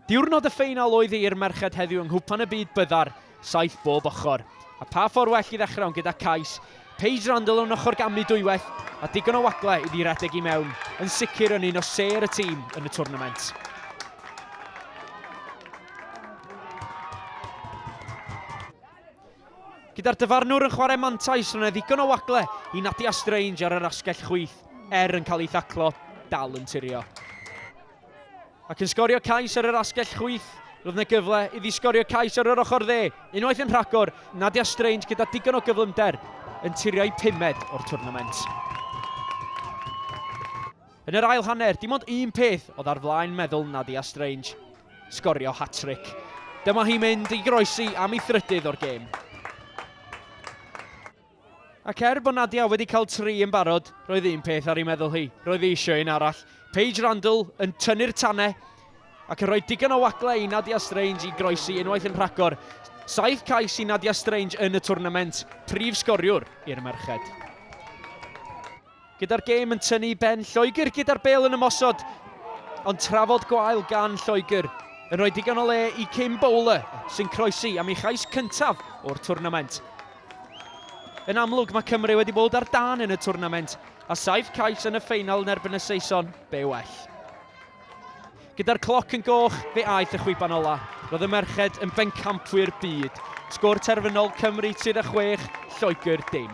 Diwrnod y ffeinal oedd i'r merched heddiw yng Nghwpan y Byd byddar saith bob ochr. A pha ffordd well i ddechrau ond gyda cais Paige Randall o'n ochr gamlu dwywaith a digon o wagle iddi redeg i mewn, yn sicr yn un o sêr y tîm yn y twrnament. Gyda'r dyfarnwr yn chwarae mantais, roedd yna ddigon o wagle i Nadia Strange ar yr asgell chwith, er yn cael ei thaclo, dal yn tirio. Ac yn sgorio cais ar yr asgell chwith, roedd yna gyfle iddi sgorio cais ar yr ochr dde, unwaith yn rhagor, Nadia Strange gyda digon o gyflymder yn tirio'i pumed o'r twrnament. Yn yr ail hanner, dim ond un peth oedd ar flaen meddwl Nadia Strange, sgorio hat-tric. Dyma hi mynd i groesi am ei thrydydd o'r gêm. Ac er bod Nadia wedi cael tri yn barod, roedd un peth ar ei meddwl hi. Roedd hi eisiau un arall. Paige Randall yn tynnu'r tanau ac yn rhoi digon o wagle i Nadia Strange i groesi unwaith yn rhagor. Saith cais i Nadia Strange yn y twrnament, prif sgoriwr i'r merched. Gyda'r gêm yn tynnu i ben, Lloegr gyda'r bel yn ymosod, ond trafod gwael gan Lloegr yn rhoi digon o le i Kim Bowler, sy'n croesi am ei chais cyntaf o'r twrnament. Yn amlwg, mae Cymru wedi bod ar dan yn y twrnament, a saif cais yn y ffeinal yn erbyn y Saeson, be well. Gyda'r cloc yn goch, fe aeth y chwiban ola'. Roedd y merched yn bencampwyr byd. Sgôr terfynol, Cymru 36, Lloegr dim.